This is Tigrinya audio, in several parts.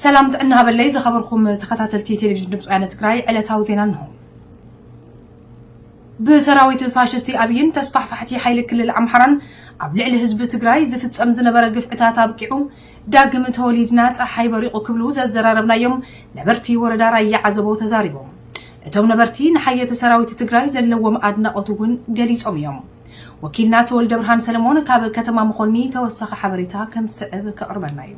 ሰላም ጥዕና ሃበለይ ዝኸበርኩም ተኸታተልቲ ቴሌቪዥን ድምፂ ወያነ ትግራይ ዕለታዊ ዜና እንሆ። ብሰራዊት ፋሽስቲ ኣብይን ተስፋሕፋሕቲ ሓይሊ ክልል ኣምሓራን ኣብ ልዕሊ ህዝቢ ትግራይ ዝፍፀም ዝነበረ ግፍዕታት ኣብቂዑ ዳግም ተወሊድና ፀሓይ በሪቑ ክብሉ ዘዘራረብናዮም ነበርቲ ወረዳ ራያ ዓዘቦ ተዛሪቦም። እቶም ነበርቲ ንሓየተ ሰራዊት ትግራይ ዘለዎም ኣድናቖት እውን ገሊፆም እዮም። ወኪልና ተወልደብርሃን ሰለሞን ካብ ከተማ መኾኒ ተወሳኺ ሓበሬታ ከም ዝስዕብ ከቕርበልና እዩ።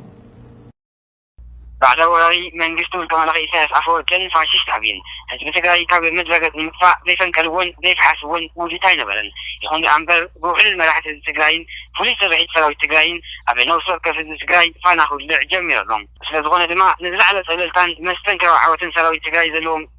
ባዕዳዊ ወራሪ መንግስቲ ውልቀ መላኺ ኢሳያስ ኣፈወርቅን ፋሽስት ኣብይን ህዝቢ ትግራይ ካብ ምድረ ገፅ ንምጥፋእ ዘይፈንቀልዎን ዘይፈሓስዎን ውዲት ኣይነበረን። ይኹን ደኣ እምበር ብውሕሉል መራሕቲ ህዝቢ ትግራይን ፍሉይ ስርሒት ሰራዊት ትግራይን ኣብ ነብሲ ወከፍ ህዝቢ ትግራይ ፋና ክውልዕ ጀሚሩ ኣሎ። ስለዝኾነ ድማ ንዝለዓለ ፀብለልታን መስተንክራዊ ዓወትን ሰራዊት ትግራይ ዘለዎም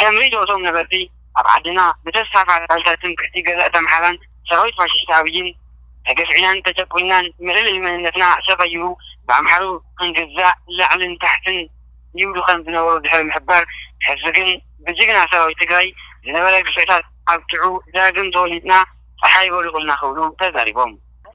ከም ርድኦቶም ነበርቲ ኣብ ዓድና ብተስፋፋ ቃልታት ትምክሕቲ ገዛእቲ ኣምሓራን ሰራዊት ፋሽሽቲ ኣብይን ተገፍዒናን ተጨቁንናን መለለዩ መንነትና ሰቐይሩ ብኣምሓሩ ክንግዛእ ላዕልን ታሕትን ይብሉ ከም ዝነበሩ ድሕሪ ምሕባር ሕዚ ግን ብጅግና ሰራዊት ትግራይ ዝነበረ ግፍዕታት ኣብቂዑ ዳግም ተወሊድና ፀሓይ በሪቑልና ክብሉ ተዛሪቦም።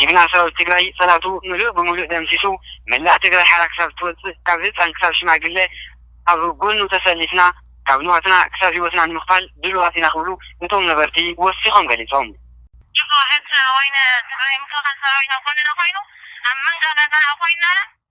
ጅግና ሰራዊት ትግራይ ፀላቱ ምሉእ ብሙሉእ ደምሲሱ መላእ ትግራይ ሓራ ክሳብ እትወፅእ ካብ ህፃን ክሳብ ሽማግለ ኣብ ጎኑ ተሰሊፍና ካብ ንዋትና ክሳብ ሂወትና ንምኽፋል ድሉዋት ኢና ክብሉ እቶም ነበርቲ ወሲኾም ገሊፆም። ጅግና ጀነራል ወይነ ትግራይ ምክልኻል ሰራዊትና ጎንና ኮይኑ ኣብ መንጋጋና ኮይንና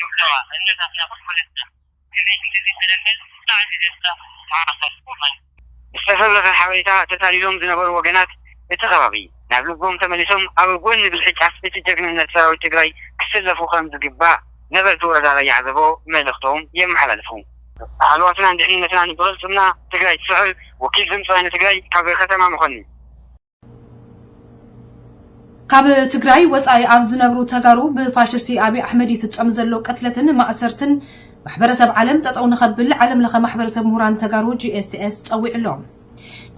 ይብለዋ እነት ኣስና ኩል ፈለጥና ክዘይ ክንድዚ ተለምል ብጣዕሚ ደስታ ተሓፋሽ ኮማን። ዝተፈብረኸ ሓበሬታ ተታሊሎም ዝነበሩ ወገናት እቲ ከባቢ ናብ ልቦም ተመሊሶም ኣብ ጎኒ ብልሒ ጫፍ እቲ ጀግንነት ሰራዊት ትግራይ ክስለፉ ከም ዝግባእ ነበርቲ ወረዳ ራያ ዓዘቦ መልእኽቶም የመሓላልፉ። ሃለዋትናን ድሕንነትናን ብቕልፅምና ትግራይ ትስዕር ወኪል ድምፂ ወያነ ትግራይ ካብ ከተማ መኾኒ። ካብ ትግራይ ወፃኢ ኣብ ዝነብሩ ተጋሩ ብፋሽስቲ ኣብይ ኣሕመድ ይፍፀም ዘሎ ቅትለትን ማእሰርትን ማሕበረሰብ ዓለም ጠጠው ንኸብል ዓለም ለኸ ማሕበረሰብ ምሁራን ተጋሩ ጂኤስቲኤስ ፀዊዑ ኣሎ።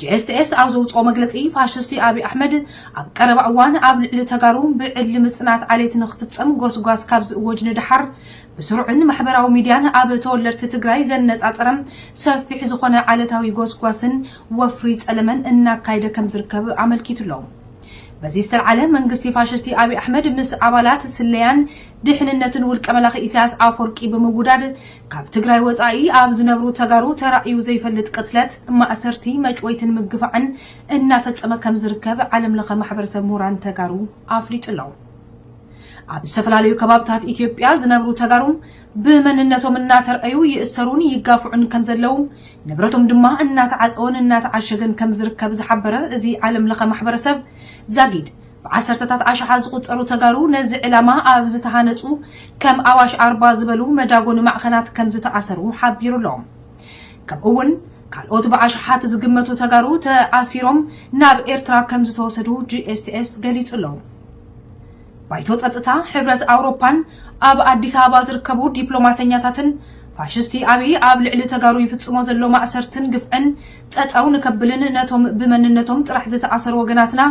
ጂኤስቲኤስ ኣብ ዘውፅኦ መግለፂ ፋሽስቲ ኣብይ ኣሕመድ ኣብ ቀረባ እዋን ኣብ ልዕሊ ተጋሩ ብዕሊ ምፅናት ዓሌት ንክፍፀም ጎስጓስ ካብ ዝእወጅ ንድሓር ብስሩዕን ማሕበራዊ ሚድያን ኣብ ተወለድቲ ትግራይ ዘነፃፀረ ሰፊሕ ዝኾነ ዓለታዊ ጎስጓስን ወፍሪ ጸለመን እናካይደ ከምዝርከብ ኣመልኪቱ'ሎ። በዚ ዝተልዓለ መንግስቲ ፋሽስቲ ኣብይ ኣሕመድ ምስ ኣባላት ስለያን ድሕንነትን ውልቀ መላኺ ኢሳያስ ኣፎርቂ ብምውዳድ ካብ ትግራይ ወጻኢ ኣብ ዝነብሩ ተጋሩ ተራእዩ ዘይፈልጥ ቅትለት፣ ማእሰርቲ፣ መጭወይትን ምግፋዕን እናፈጸመ ከምዝርከብ ዓለም ለኸ ማሕበረሰብ ምሁራን ተጋሩ ኣፍሊጡ'ሎ። ኣብ ዝተፈላለዩ ከባብታት ኢትዮጵያ ዝነብሩ ተጋሩ ብመንነቶም እናተርኣዩ ይእሰሩን ይጋፍዑን ከምዘለው፣ ንብረቶም ድማ እናተዓፀወን እናተዓሸገን ከምዝርከብ ዝሓበረ እዚ ዓለም ለኸ ማሕበረሰብ ዛጊድ፣ ብዓሰርተታት ኣሽሓት ዝቑፀሩ ተጋሩ ነዚ ዕላማ ኣብ ዝተሃነፁ ከም ኣዋሽ ኣርባ ዝበሉ መዳጎኒ ማዕኸናት ከምዝተኣሰሩ ሓቢሩ ኣሎ። ከምኡ እውን ካልኦት ብኣሽሓት ዝግመቱ ተጋሩ ተኣሲሮም ናብ ኤርትራ ከምዝተወሰዱ GSTS ገሊፁ ኣሎ። ባይቶ ጸጥታ ሕብረት ኣውሮፓን ኣብ ኣዲስ ኣበባ ዝርከቡ ዲፕሎማሰኛታትን ፋሽስቲ ኣብይ ኣብ ልዕሊ ተጋሩ ይፍጽሞ ዘሎ ማእሰርትን ግፍዕን ጠጠው ንከብልን ነቶም ብመንነቶም ጥራሕ ዝተኣሰሩ ወገናትና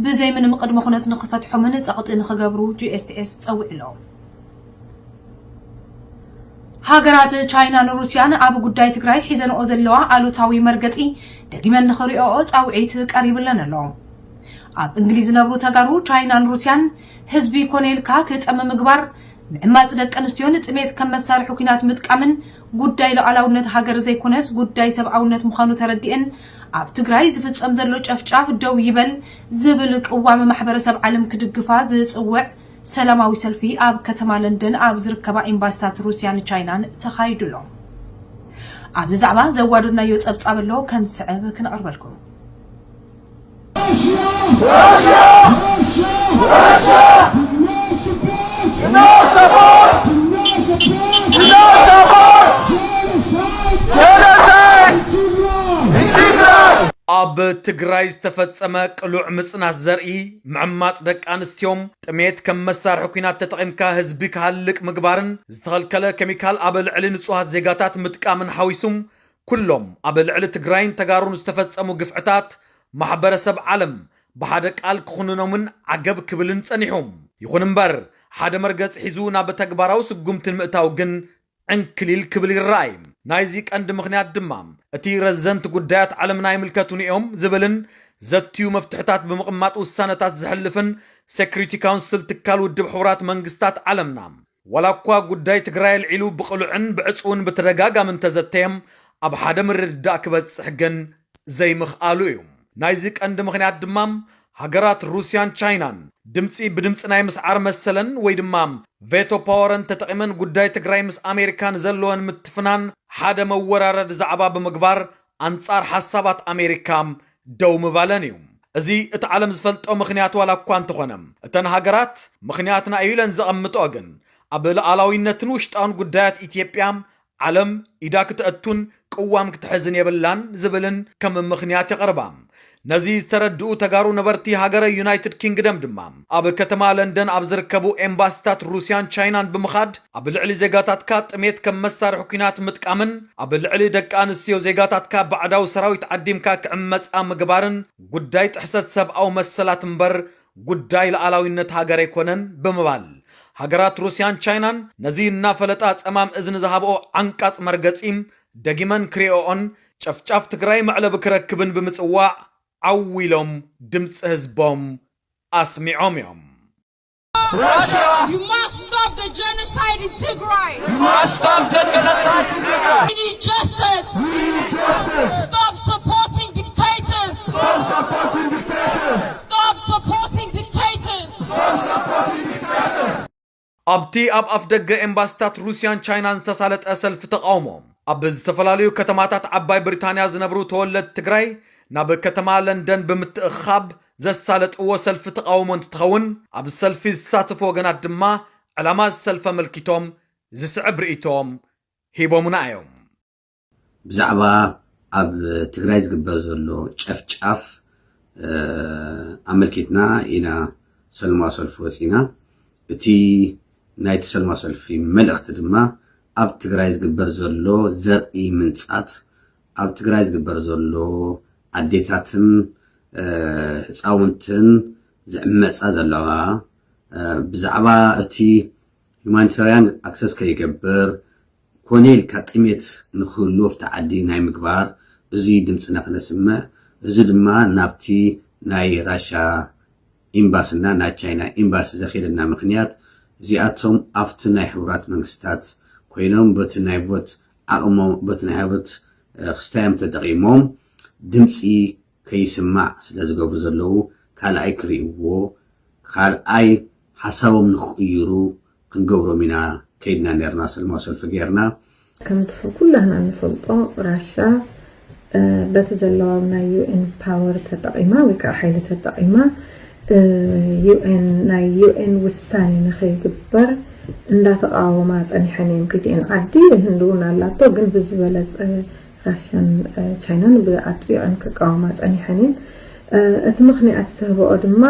ብዘይ ምንም ቅድመ ኩነት ንክፈትሖምን ጸቕጢ ንክገብሩ GSTS ጸዊዑ ኣሎ። ሃገራት ቻይናን ሩስያን ኣብ ጉዳይ ትግራይ ሒዘንኦ ዘለዋ ኣሉታዊ መርገጺ ደጊመን ንክሪኦኦ ጻውዒት ቀሪብለን ኣሎ። ኣብ እንግሊዝ ዝነብሩ ተጋሩ ቻይናን ሩስያን ህዝቢ ኮነ ኢልካ ክጠሚ ምግባር፣ ምዕማጽ ደቂ ኣንስትዮን ጥሜት ከም መሳርሒ ኲናት ምጥቃምን ጉዳይ ሉዓላውነት ሃገር ዘይኮነስ ጉዳይ ሰብኣውነት ምዃኑ ተረዲኤን ኣብ ትግራይ ዝፍጸም ዘሎ ጨፍጫፍ ደው ይበል ዝብል ቅዋም ማሕበረሰብ ዓለም ክድግፋ ዝጽውዕ ሰላማዊ ሰልፊ ኣብ ከተማ ለንደን ኣብ ዝርከባ ኤምባሲታት ሩስያን ቻይናን ተኻይዱ ኣሎ። ኣብዚ ዛዕባ ዘዋደድናዮ ጸብጻብ ኣሎ ከም ዝስዕብ ክነቕርበልኩም። ኣብ ትግራይ ዝተፈጸመ ቅሉዕ ምጽናት ዘርኢ፣ ምዕማጽ ደቂ ኣንስቲዮም፣ ጥሜት ከም መሳርሒ ኩናት ተጠቒምካ ህዝቢ ክሃልቅ ምግባርን ዝተኸልከለ ከሚካል ኣብ ልዕሊ ንጹሃት ዜጋታት ምጥቃምን ሓዊሱ ኩሎም ኣብ ልዕሊ ትግራይን ተጋሩን ዝተፈፀሙ ግፍዕታት ማሕበረሰብ ዓለም ብሓደ ቃል ክኹንኖምን ዓገብ ክብልን ፀኒሑ። ይኹን እምበር ሓደ መርገፂ ሒዙ ናብ ተግባራዊ ስጉምቲ ንምእታው ግን ዕንክሊል ክብል ይረኣይ። ናይዚ ቀንዲ ምኽንያት ድማ እቲ ረዘንቲ ጉዳያት ዓለምና ይምልከቱኒ እዮም ዝብልን ዘትዩ መፍትሕታት ብምቕማጥ ውሳነታት ዘሕልፍን ሴክሪቲ ካውንስል ትካል ውድብ ሕቡራት መንግስታት ዓለምና፣ ዋላኳ ጉዳይ ትግራይ ኣልዒሉ ብቕሉዕን ብዕፅውን ብተደጋጋሚ እንተዘተየ ኣብ ሓደ ምርድዳእ ክበፅሕ ግን ዘይምኽኣሉ እዩ። ናይዚ ቀንዲ ምኽንያት ድማ ሃገራት ሩስያን ቻይናን ድምፂ ብድምፂ ናይ ምስዓር መሰለን ወይ ድማ ቬቶ ፓወረን ተጠቒመን ጉዳይ ትግራይ ምስ ኣሜሪካ ንዘለወን ምትፍናን ሓደ መወራረዲ ዛዕባ ብምግባር ኣንጻር ሓሳባት ኣሜሪካ ደው ምባለን እዩ። እዚ እቲ ዓለም ዝፈልጦ ምኽንያት ዋላ እኳ እንተኾነ፣ እተን ሃገራት ምኽንያትና እዩ ኢለን ዘቐምጥኦ ግን፣ ኣብ ልኣላዊነትን ውሽጣውን ጉዳያት ኢትዮጵያ ዓለም ኢዳ ክተእቱን ቅዋም ክትሕዝን የብላን ዝብልን ከም ምኽንያት የቕርባ። ነዚ ዝተረድኡ ተጋሩ ነበርቲ ሃገረ ዩናይትድ ኪንግደም ድማ ኣብ ከተማ ለንደን ኣብ ዝርከቡ ኤምባሲታት ሩስያን ቻይናን ብምኻድ ኣብ ልዕሊ ዜጋታትካ ጥሜት ከም መሳርሒ ኲናት ምጥቃምን ኣብ ልዕሊ ደቂ ኣንስትዮ ዜጋታትካ ባዕዳዊ ሰራዊት ዓዲምካ ክዕመጻ ምግባርን ጉዳይ ጥሕሰት ሰብኣዊ መሰላት እምበር ጉዳይ ልኣላዊነት ሃገር ኣይኮነን ብምባል ሃገራት ሩስያን ቻይናን ነዚ እናፈለጣ ጸማም እዝኒ ዝሃብኦ ዓንቃጽ መርገጺ ደጊመን ክሪኦኦን ጨፍጫፍ ትግራይ መዕለቢ ክረክብን ብምፅዋዕ ዓው ኢሎም ድምፂ ህዝቦም ኣስሚዖም እዮም። ኣብቲ ኣብ ኣፍደገ ኤምባሲታት ሩስያን ቻይናን ዝተሳለጠ ሰልፊ ተቓውሞ፣ ኣብ ዝተፈላለዩ ከተማታት ዓባይ ብሪታንያ ዝነብሩ ተወለድቲ ትግራይ ናብ ከተማ ለንደን ብምትእኽኻብ ዘሳለጥዎ ሰልፊ ተቓውሞ እንትትኸውን፣ ኣብ ሰልፊ ዝተሳተፉ ወገናት ድማ ዕላማ እዚ ሰልፊ ኣመልኪቶም ዝስዕብ ርእይቶኦም ሂቦሙና እዮም። ብዛዕባ ኣብ ትግራይ ዝግበር ዘሎ ጨፍጫፍ ኣመልኪትና ኢና ሰልማዊ ሰልፊ ወፂና። እቲ ናይቲ ሰልማዊ ሰልፊ መልእኽቲ ድማ ኣብ ትግራይ ዝግበር ዘሎ ዘርኢ ምንፃት፣ ኣብ ትግራይ ዝግበር ዘሎ ኣዴታትን ህፃውንትን ዝዕመፃ ዘለዋ ብዛዕባ እቲ ሁማኒታርያን ኣክሰስ ከይገብር ኮነ ኢልካ ጥሜት ንክህሉ ኣብቲ ዓዲ ናይ ምግባር እዙይ ድምፅና ክነስምዕ እዙይ ድማ ናብቲ ናይ ራሻ ኢምባሲ እና ናይ ቻይና ኢምባሲ ዘክየደና ምክንያት እዚኣቶም ኣብቲ ናይ ሕቡራት መንግስታት ኮይኖም በቲ ናይ ቮት ዓቅሞም በቲ ናይ ቮት ክስታዮም ተጠቂሞም ድምፂ ከይስማዕ ስለ ዝገብሩ ዘለዉ ካልኣይ ክሪእዎ ካልኣይ ሓሳቦም ንክቕይሩ ክንገብሮም ኢና ከይድና ኔርና ሰልማዊ ሰልፊ ጌርና። ከምቲ ኩላህና እንፈልጦ ራሻ በቲ ዘለዋ ብ ናይ UN ፓወር ተጠቒማ ወይ ከኣ ሓይሊ ተጠቒማ UN ናይ UN ውሳኔ ንኸይግበር እንዳተቓወማ ጸኒሐን እየን ክልቲኤን ዓዲ ህንዲ ውን ኣላቶ ግን ብዝበለጸ ራሻን ቻይናን ብኣጥቢቐን ክቃወማ ጸኒሐን እየን። እቲ ምኽንያት ዘህበኦ ድማ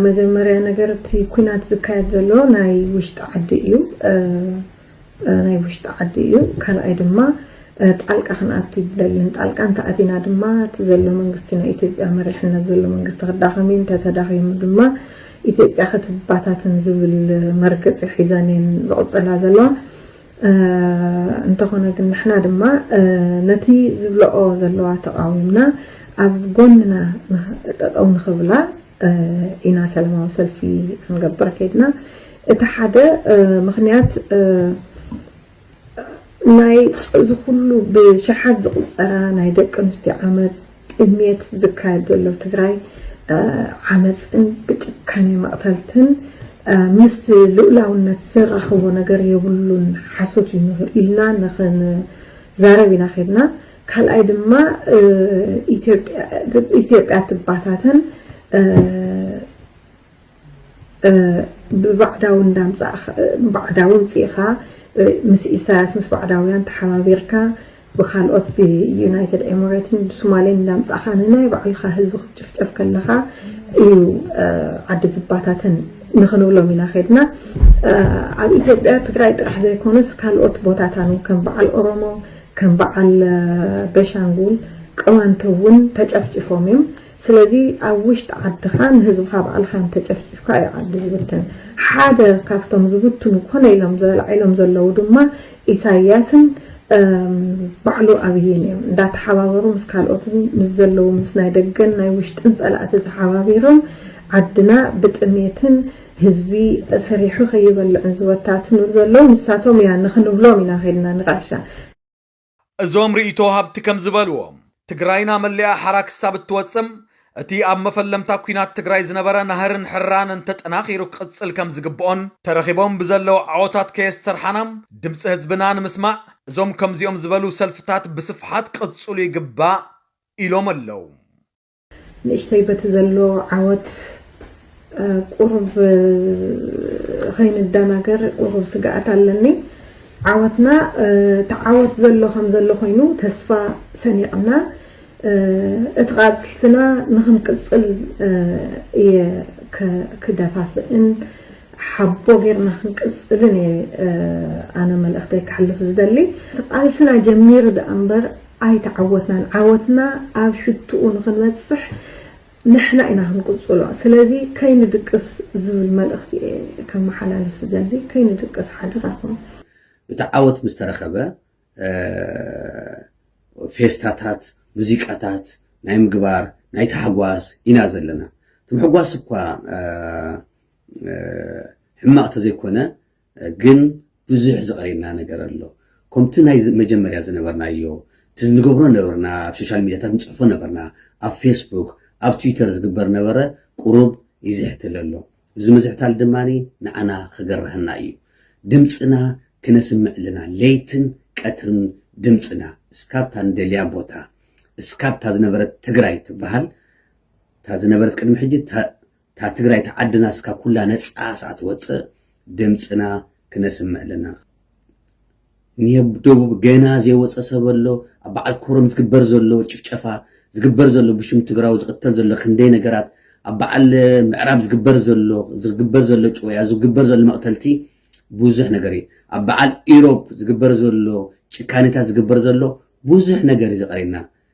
መጀመርያ ነገር እቲ ኩናት ዝካየድ ዘሎ ናይ ውሽጢ ዓዲ እዩ ናይ ውሽጢ ዓዲ እዩ ካልኣይ ድማ ጣልቃ ክንኣቱ ይደልን ጣልቃ እንተኣቲና ድማ እቲ ዘሎ መንግስቲ ናይ ኢትዮጵያ መሪሕነት ዘሎ መንግስቲ ክዳኸም እዩ እንተተዳኺሙ ድማ ኢትዮጵያ ክትባታትን ዝብል መርገፂ ሒዘን እየን ዝቕፅላ ዘለዋ እንተኾነ ግን ንሕና ድማ ነቲ ዝብለኦ ዘለዋ ተቓዊምና ኣብ ጎንና ጠጠው ንኽብላ ኢና ሰለማዊ ሰልፊ ክንገብር ከይድና እቲ ሓደ ምኽንያት ናይ እዚ ኩሉ ብሸሓት ዝቑጸራ ናይ ደቂ ኣንስትዮ ዓመጽ ቅድሚየቲ ዝካየድ ዘሎ ትግራይ ዓመፅን ብጭካኔ መቕተልትን ምስቲ ልኡላውነት ዘራኽቦ ነገር የብሉን ሓሶት እዩ ኢልና ንኽንዛረብ ኢና ኬድና። ካልኣይ ድማ ኢትዮጵያ ትባታተን ብባዕዳዊ እንዳምጻእካ ባዕዳዊ ምጺእካ ምስ ኢሳያስ ምስ ባዕዳውያን ተሓባቢርካ ብካልኦት ብዩናይትድ ኤምሬትን ብሱማሌን እንዳምጻእካ ንናይ ባዕልካ ህዝቢ ክትጭፍጨፍ ከለካ እዩ ዓዲ ዝባታተን ንክንብሎም ኢና ከድና ኣብ ኢትዮጵያ ትግራይ ጥራሕ ዘይኮነስ ካልኦት ቦታታን ከም በዓል ኦሮሞ ከም በዓል ቤሻንጉል ቅማንት እውን ተጨፍጭፎም እዮም ስለዚ ኣብ ውሽጢ ዓድኻ ንህዝብኻ ባዕልኻ እንተጨፍጪፍካ እዩ ዓዲ ዝብተን። ሓደ ካብቶም ዝብትኑ ኮነ ኢሎም ዘላዒሎም ዘለዉ ድማ ኢሳይያስን ባዕሉ ኣብይን እዮም። እንዳተሓባበሩ ምስ ካልኦትን ምስ ዘለዉ ምስ ናይ ደገን ናይ ውሽጥን ጸላእቲ ተሓባቢሮም ዓድና ብጥሜትን ህዝቢ ሰሪሑ ከይበልዕን ዝበታትኑ ዘለዉ ንሳቶም እያ ንኽንብሎም ኢና ከይድና ንጋሻ እዞም ርእይቶ ሃብቲ ከም ዝበልዎ፣ ትግራይና መሊኣ ሓራ ክሳብ እትወፅእ እቲ ኣብ መፈለምታ ኲናት ትግራይ ዝነበረ ናህርን ሕራነን ተጠናኺሩ ክቕፅል ከም ዝግብኦን ተረኺቦም ብዘለው ዓወታት ከየስተርሓና ድምፂ ህዝብና ንምስማዕ እዞም ከምዚኦም ዝበሉ ሰልፍታት ብስፍሓት ክቕፅሉ ይግባእ ኢሎም ኣለው። ንእሽተይ በቲ ዘሎ ዓወት ቁሩብ ኸይንደናገር ቁሩብ ስግኣት ኣለኒ። ዓወትና እቲ ዓወት ዘሎ ከም ዘሎ ኾይኑ ተስፋ ሰኒቕና እቲ ቓልስና ንኽንቅጽል እየ ክደፋፍእን ሓቦ ጌርና ክንቅጽልን እየ ኣነ መልእኽተይ ከሕልፍ ዝደሊ። እቲ ቓልስና ጀሚሩ ደኣ እምበር ኣይተዓወትናን ዓወትና ኣብ ሽትኡ ንኽንበጽሕ ንሕና ኢና ክንቅጽሎ ስለዚ ከይንድቅስ ዝብል መልእኽቲ እየ ከመሓላልፍ ዝደሊ ከይንድቅስ ሓደራኹም። እቲ ዓወት ምስ ተረኸበ ፌስታታት ሙዚቃታት ናይ ምግባር ናይ ታሕጓስ ኢና ዘለና እቲ ምሕጓስ እኳ ሕማቕ ተዘይኮነ ግን ብዙሕ ዝቐረየና ነገር ኣሎ። ኮምቲ ናይ መጀመርያ ዝነበርናዮ እቲ ንገብሮ ነበርና ኣብ ሾሻል ሚድያታት ንጽሕፎ ነበርና ኣብ ፌስቡክ ኣብ ትዊተር ዝግበር ነበረ ቁሩብ ይዝሕትል ኣሎ። እዚ ምዝሕታል ድማ ንዓና ክገርሃና እዩ። ድምጽና ክነስምዕ ኣለና ለይትን ቀትርን ድምጽና እስካብ እታ ንደልያ ቦታ እስካብ እታ ዝነበረት ትግራይ ትበሃል እታ ዝነበረት ቅድሚ ሕጂ እታ ትግራይ እታ ዓድና እስካ ኩላ ነጻ ስኣ ትወጽእ ድምጽና ክነስምዕ ኣለና ኒብ ደቡብ ገና ዘይወጸ ሰብ ኣሎ ኣብ በዓል ኮረም ዝግበር ዘሎ ጭፍጨፋ ዝግበር ዘሎ ብሽም ትግራዊ ዝቕተል ዘሎ ክንደይ ነገራት ኣብ በዓል ምዕራብ ዝግበር ዘሎ ዝግበር ዘሎ ጭወያ ዝግበር ዘሎ መቕተልቲ ብዙሕ ነገር እዩ ኣብ በዓል ኢሮብ ዝግበር ዘሎ ጭካኔታት ዝግበር ዘሎ ብዙሕ ነገር እዩ ዘቐርየና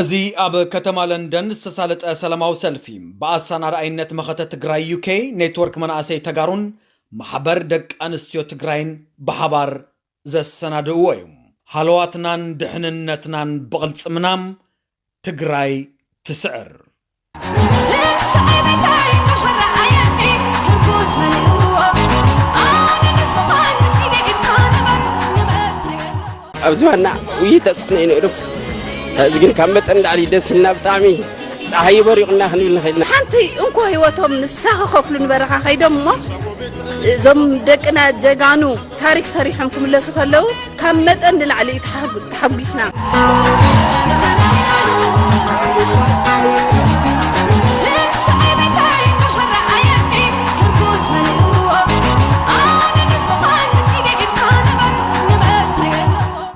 እዚ ኣብ ከተማ ለንደን ዝተሳለጠ ሰላማዊ ሰልፊ ብኣሳናዳኣይነት መኸተ ትግራይ UK ኔትወርክ መናእሰይ ተጋሩን ማሕበር ደቂ ኣንስትዮ ትግራይን ብሓባር ዘሰናድእዎ እዩ። ሃለዋትናን ድሕንነትናን ብቕልፅምና ትግራይ ትስዕር! ኣብ ዝባና ውይ ተፅዕኖ እዩ ነይሩ እዚ ግን ካብ መጠን ላዕሊ ደስ ኢልና ብጣዕሚ ፀሓይ በሪቑና ክንብል ንኽእል ኢና ሓንቲ እንኮ ህይወቶም ንሳ ክኸፍሉ ንበረኻ ከይዶም እሞ እዞም ደቅና ጀጋኑ ታሪክ ሰሪሖም ክምለሱ ከለው ካብ መጠን ንላዕሊ እዩ ተሓጒስና።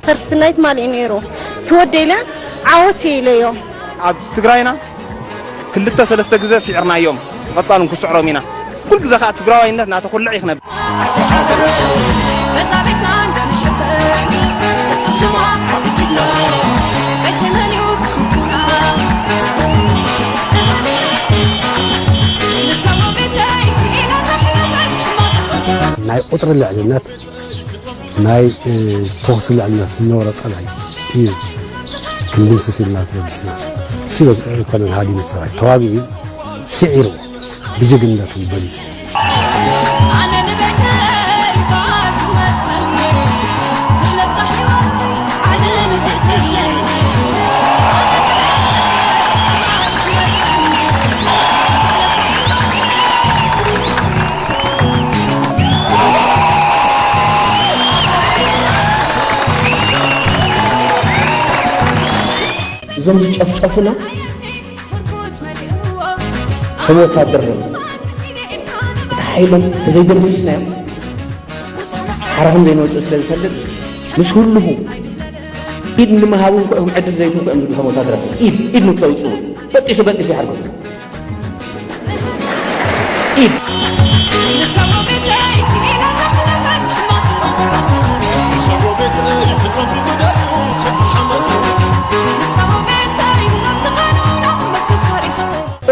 ፈርስት ናይት ማሊእ ነይሩ ትወደኢለ ዓወት ኢለዮ ኣብ ትግራይና ክልተ ሰለስተ ግዘ ሲዕርናዮም ብቀፃሉ ንክስዕሮም ኢና ኩሉ ግዘ ከዓ ትግራዋይነት እናተኩልዕ እዩ ክነብ ናይ ቁፅሪ ልዕልነት ናይ ተኹሲ ልዕልነት ዝነበሮ ፀላኢ እዩ ክንድምስስ ኢልና ተበጊስና ሽዶ ኣይኮነን ሃዲሙ ሰራዊት ተዋጊኡ ስዒርዎ ብጅግንነቱ በሊፁ እዞም ዝጨፍጨፉና ከም ወታደር ነ እቲ ሓይሎም ተዘይደምስስናዮም ሓራኹም ዘይንወፅእ ስለ ዝፈልጥ ምስ ህልኹ ኢድ ንምሃብ እውን ክዕድል ዘይትንኩ እዮም ዝብሉ ከም ወታደራት ኢድ ኢድ ንክተውፅኡ በጢሱ በጢሱ ይሓርኩም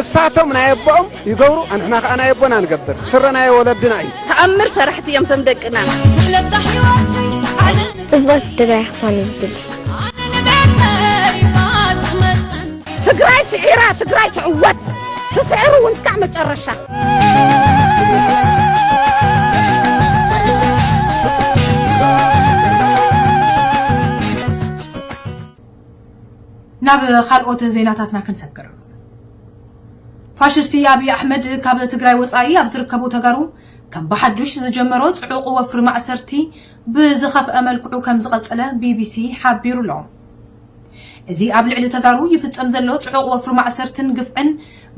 እሳቶም ናይ ኣቦኦም ይገብሩ ኣንሕና ከዓ ናይ ኣቦና ንገብር ስረ ናይ ወለድና እዩ ተኣምር ሰራሕቲ እዮም ቶም ደቅና ፅብቕቲ ትግራይ ክታን ዝድል ትግራይ ስዒራ ትግራይ ትዕወት ትስዕር እውን እስካዕ መጨረሻ ናብ ካልኦት ዜናታትና ክንሰግር ፋሽስቲ ኣብዪ ኣሕመድ ካብ ትግራይ ወፃኢ ኣብ ዝርከቡ ተጋሩ ከም ብሓዱሽ ዝጀመሮ ፅዑቕ ወፍሪ ማእሰርቲ ብዝኸፍአ መልክዑ ከም ዝቐፀለ ቢቢሲ ሓቢሩ ኣሎ እዚ ኣብ ልዕሊ ተጋሩ ይፍጸም ዘሎ ጽዑቕ ወፍሪ ማእሰርትን ግፍዕን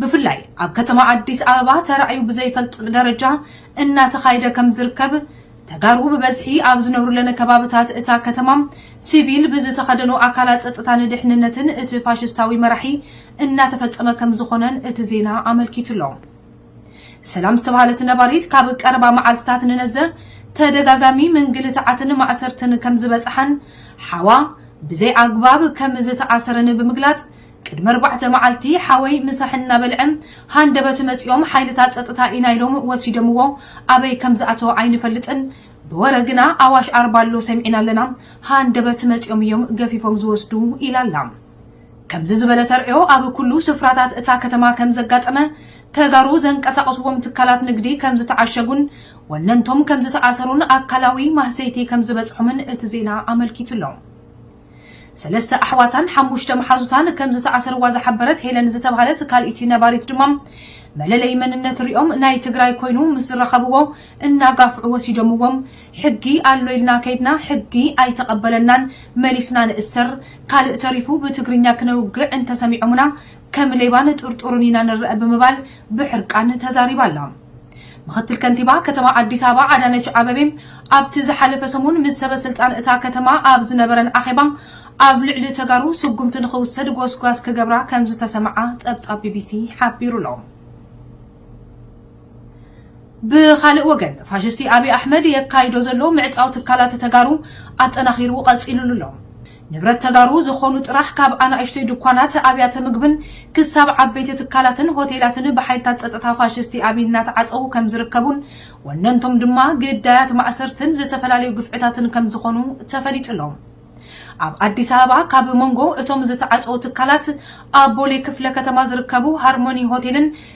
ብፍላይ ኣብ ከተማ ኣዲስ ኣበባ ተራእዩ ብዘይፈልጥ ደረጃ እናተኻይደ ከም ዝርከብ ተጋሩ ብበዝሒ ኣብ ዝነብሩለን ከባብታት እታ ከተማ ሲቪል ብዝተኸደኑ ኣካላት ጸጥታን ድሕንነትን እቲ ፋሽስታዊ መራሒ እናተፈጸመ ከም ዝኾነን እቲ ዜና ኣመልኪቱ ኣሎ። ሰላም ዝተባህለት ነባሪት ካብ ቀረባ መዓልትታት ንነዘ ተደጋጋሚ ምንግልታዓትን ማእሰርትን ከም ዝበጽሓን ሓዋ ብዘይ ኣግባብ ከም ዝተኣሰረን ብምግላጽ ቅድሚ ኣርባዕተ መዓልቲ ሓወይ ምሳሕ እናበልዐ ሃንደበት መጺኦም ሓይልታት ጸጥታ ኢና ኢሎም ወሲደምዎ ኣበይ ከም ዝኣተወ ኣይንፈልጥን ብወረ ግና ኣዋሽ ኣርባ ኣሎ ሰሚዕና ኣለና ሃንደበት መጺኦም እዮም ገፊፎም ዝወስዱ ኢላ ኣላ። ከምዚ ዝበለ ተርእዮ ኣብ ኩሉ ስፍራታት እታ ከተማ ከም ዘጋጠመ፣ ተጋሩ ዘንቀሳቕስዎም ትካላት ንግዲ ከም ዝተዓሸጉን ወነንቶም ከም ዝተኣሰሩን ኣካላዊ ማህሰይቲ ከም ዝበጽሖምን እቲ ዜና ኣመልኪቱ ኣሎ። ሰለስተ ኣሕዋታን ሓሙሽተ መሓዙታን ከም ዝተኣሰርዋ ዝሓበረት ሄለን ዝተባህለት ካልኢቲ ነባሪት ድማ፣ መለለዪ መንነት ርእዮም ናይ ትግራይ ኮይኑ ምስ ዝረኸብዎ እናጋፍዑ ወሲዶምዎም ሕጊ ኣሎ ኢልና ከይድና ሕጊ ኣይተቐበለናን መሊስና ንእሰር ካልእ ተሪፉ ብትግርኛ ክነውግዕ እንተሰሚዖሙና ከም ሌባን ጥርጡርን ኢና ንረኣ ብምባል ብሕርቃን ተዛሪባ ኣላ። ምኽትል ከንቲባ ከተማ ኣዲስ ኣበባ ኣዳነች ኣበቤ ኣብቲ ዝሓለፈ ሰሙን ምስ ሰበ ስልጣን እታ ከተማ ኣብ ዝነበረን ኣኼባ ኣብ ልዕሊ ተጋሩ ስጉምቲ ንኽውሰድ ጎስጓስ ክገብራ ከምዝተሰምዓ ፀብፃብ ቢቢሲ ሓቢሩ'ሎ። ብኻልእ ወገን ፋሽስቲ ኣብይ ኣሕመድ የካይዶ ዘሎ ምዕፃው ትካላት ተጋሩ ኣጠናኺሩ ቐፂሉሉ ኣሎ። ንብረት ተጋሩ ዝኾኑ ጥራሕ ካብ ኣናእሽተይ ድኳናት፣ ኣብያተ ምግብን ክሳብ ዓበይቲ ትካላትን ሆቴላትን ብሓይልታት ፀጥታ ፋሽስቲ ኣብይ እናተዓፀዉ ከምዝርከቡን ወነንቶም ድማ ግዳያት ማእሰርትን ዝተፈላለዩ ግፍዕታትን ከምዝኾኑ ተፈሊጡ ኣሎ። ኣብ ኣዲስ ኣበባ ካብ መንጎ እቶም ዝተዓፀዉ ትካላት ኣብ ቦሌ ክፍለ ከተማ ዝርከቡ ሃርሞኒ ሆቴልን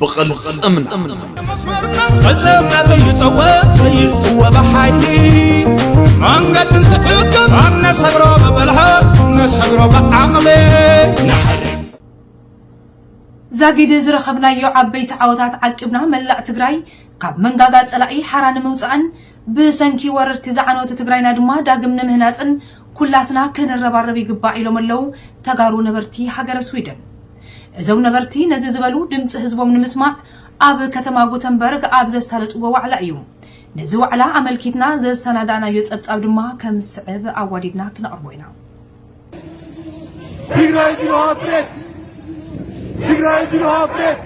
ብቕልፅምና ፈፀምና ዘይጠወ ዘይጥወ ብሓይሊ መንገዲ ዝሕግብ ኣብ ነሰግሮ ብብልሃት ነሰግሮ ብዓቕሊ ዛጊድ ዝረኸብናዮ ዓበይቲ ዓወታት ዓቂብና መላእ ትግራይ ካብ መንጋጋ ፀላኢ ሓራ ንምውፃእን ብሰንኪ ወረርቲ ዝዓነወት ትግራይና ድማ ዳግም ንምህናፅን ኩላትና ክንረባረብ ይግባእ ኢሎም ኣለው ተጋሩ ነበርቲ ሃገረ ስዊድን። እዞም ነበርቲ ነዚ ዝበሉ ድምፂ ህዝቦም ንምስማዕ ኣብ ከተማ ጉተንበርግ ኣብ ዘሳለጥዎ ዋዕላ እዩ። ነዚ ዋዕላ ኣመልኪትና ዘሰናዳእናዮ ፀብፃብ ድማ ከም ዝስዕብ ኣዋዲድና ክነቕርቦ ኢና። ትግራይ ቢሮ ኦፕሬት ትግራይ ቢሮ ኦፕሬት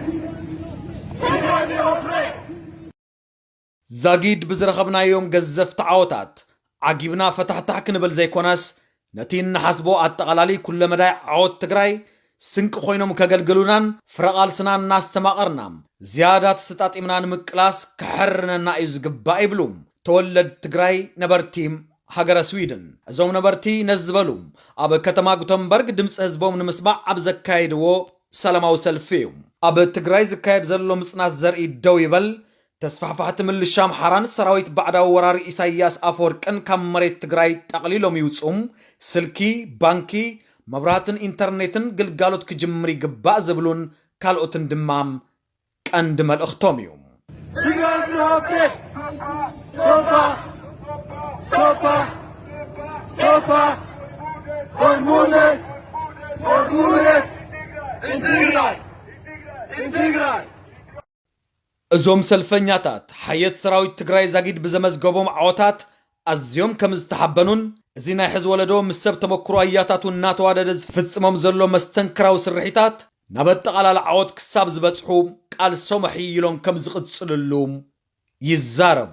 ትግራይ ቢሮ ኦፕሬት ዛጊድ ብዝረኸብናዮም ገዘፍቲ ዓወታት ዓጊብና ፈታሕታሕ ክንብል ዘይኮነስ ነቲ እንሓስቦ ኣጠቓላሊ ኩለመዳይ ዓወት ትግራይ ስንቂ ኮይኖም ከገልግሉናን ፍረ ቓልስና እናስተማቐርና ዝያዳ ተሰጣጢምና ንምቅላስ ከሐርነና እዩ ዝግባእ ይብሉ ተወለድ ትግራይ ነበርቲ ሃገረ ስዊድን። እዞም ነበርቲ ነዚ ዝበሉ ኣብ ከተማ ጉተንበርግ ድምፂ ህዝቦም ንምስማዕ ኣብ ዘካየድዎ ሰላማዊ ሰልፊ እዩ። ኣብ ትግራይ ዝካየድ ዘሎ ምፅናት ዘርኢ ደው ይበል፣ ተስፋሕፋሕቲ ምልሻ ኣምሓራን ሰራዊት ባዕዳዊ ወራሪ ኢሳይያስ ኣፈወርቅን ካብ መሬት ትግራይ ጠቕሊሎም ይውፅኡ፣ ስልኪ፣ ባንኪ፣ መብራህትን ኢንተርኔትን ግልጋሎት ክጅምር ይግባእ ዝብሉን ካልኦትን ድማ ቀንዲ መልእኽቶም እዩ። ትግራይ ትረብሕ ሶፓ ሶፓ ሶፓ ሆርሙነት ሆርሙነት ኢንትግራይ ኢንትግራይ እዞም ሰልፈኛታት፣ ሓየት ሰራዊት ትግራይ ዛጊድ ብዘመዝገቦም ዓወታት ኣዝዮም ከምዝተሓበኑን እዚ ናይ ሕዚ ወለዶ ምስ ሰብ ተመኩሮ ኣያታቱ እናተዋደደ ዝፍጽሞም ዘሎ መስተንክራዊ ስርሒታት ናብ ኣጠቓላሊ ዓወት ክሳብ ዝበጽሑ ቃልሶም ኣሕይሎም ከምዝቕጽልሉ ይዛረቡ።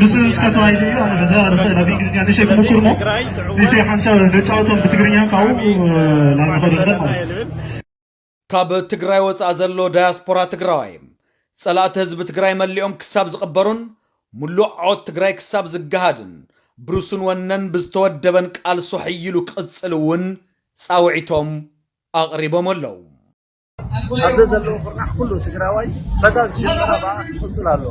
ብስም እስከ ተዋሂዱ እዩ ኣነ በዛ ርኽእ ናብ እንግሊዝኛ ንሸይ ክምኩር እሞ ንሸይ ሓንሻ ነጫወቶም ብትግርኛ ካብኡ ናብ ንኸዶ ንበር ማለት እዩ ካብ ትግራይ ወፃእ ዘሎ ዳያስፖራ ትግራዋይ ፀላእቲ ህዝቢ ትግራይ መሊኦም ክሳብ ዝቕበሩን ሙሉእ ዓወት ትግራይ ክሳብ ዝገሃድን ብርሱን ወነን ብዝተወደበን ቃልሱ ሕይሉ ክቕፅል እውን ፃውዒቶም ኣቕሪቦም ኣለው። ኣብ ዘዘለዎ ኩርናዕ ኩሉ ትግራዋይ በታ ዝጀመራ ብኣ ክቕፅል ኣለዎ።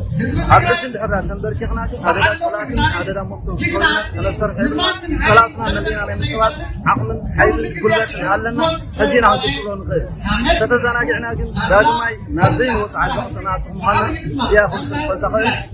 ኣብ ሕጂ እንድሕር ድኣ ተንበርኪኽና ግን ኣደዳ ፀላእትን ኣደዳ መፍቶም ኮይና ተነሰርሐ ድማ ፀላእትና መሊእና ናይ ምቅራፅ ዓቕምን ሓይልን ጉልበትን ኣለና ሕጂ ኢና ክንቅፅሎ ንኽእል። ተተዘናጊዕና ግን ዳግማይ ናብ ዘይንወፅ ዓዘቕቲ ንኣቱ ምዃንና እዚኣ ክውስኽ ተኽእል።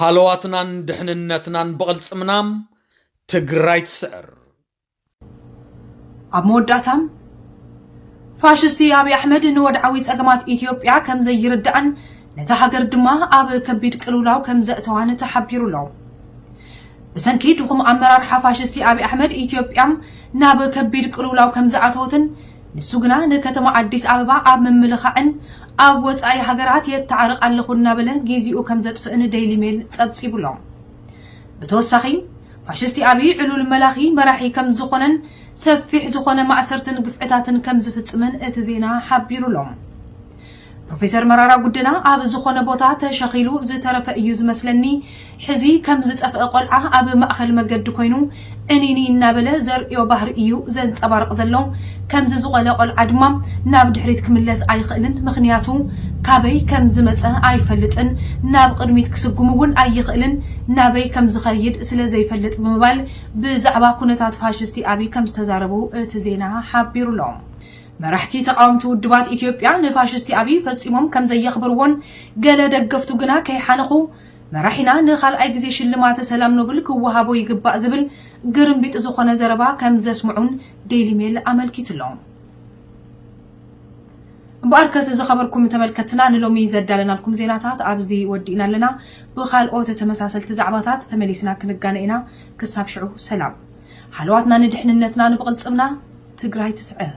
ሃለዋትናን ድሕንነትናን ብቕልፅምና ትግራይ ትስዕር! ኣብ መወዳእታ ፋሽስቲ ኣብይ ኣሕመድ ንወድዓዊ ጸገማት ኢትዮጵያ ከም ዘይርዳእን ነታ ሃገር ድማ ኣብ ከቢድ ቅልውላው ከም ዘእተዋን ተሓቢሩ ኣሎ። ብሰንኪ ድኹም ኣመራርሓ ፋሽስቲ ኣብይ ኣሕመድ ኢትዮጵያ ናብ ከቢድ ቅልውላው ከም ዝኣተወትን ንሱ ግና ንከተማ ኣዲስ ኣበባ ኣብ ምምልኻዕን ኣብ ወጻኢ ሃገራት የታዕርቕ ኣለኹ እናበለ ጊዚኡ ከም ዘጥፍእን ደይሊ ሜል ጸብጺቡ'ሎ። ብተወሳኺ ፋሽስቲ ኣብይ ዕሉል መላኺ መራሒ ከም ዝኾነን ሰፊሕ ዝኾነ ማእሰርትን ግፍዕታትን ከም ዝፍጽምን እቲ ዜና ሓቢሩ'ሎ። ፕሮፌሰር መራራ ጉድና ኣብ ዝኾነ ቦታ ተሸኺሉ ዝተረፈ እዩ ዝመስለኒ። ሕዚ ከም ዝጠፍአ ቆልዓ ኣብ ማእኸል መገዲ ኮይኑ ዕንይንይ እናበለ ዘርእዮ ባህሪ እዩ ዘንፀባርቕ ዘሎ። ከምዚ ዝቖለ ቆልዓ ድማ ናብ ድሕሪት ክምለስ ኣይኽእልን ምኽንያቱ ካበይ ከም ዝመፀ ኣይፈልጥን ናብ ቕድሚት ክስጉም እውን ኣይኽእልን ናበይ ከም ዝኸይድ ስለ ዘይፈልጥ ብምባል ብዛዕባ ኩነታት ፋሽስቲ ኣብይ ከም ዝተዛረቡ እቲ ዜና ሓቢሩ'ሎ። መራሕቲ ተቓወምቲ ውድባት ኢትዮጵያ ንፋሽስቲ ኣብይ ፈጺሞም ከም ዘየኽብርዎን ገለ ደገፍቱ ግና ከይሓነኹ መራሒና ንኻልኣይ ግዜ ሽልማተ ሰላም ኖብል ክወሃቦ ይግባእ ዝብል ግርምቢጢ ዝኾነ ዘረባ ከም ዘስምዑን ዴይሊ ሜል ኣመልኪቱ ኣሎ። እምበኣርከስ ዝኸበርኩም ተመልከትና ንሎሚ ዘዳለናልኩም ዜናታት ኣብዚ ወዲእና ኣለና። ብኻልኦት ተመሳሰልቲ ዛዕባታት ተመሊስና ክንጋነ ኢና። ክሳብ ሽዑ ሰላም። ሃለዋትና ንድሕንነትና ንብቅልፅምና ትግራይ ትስዕር።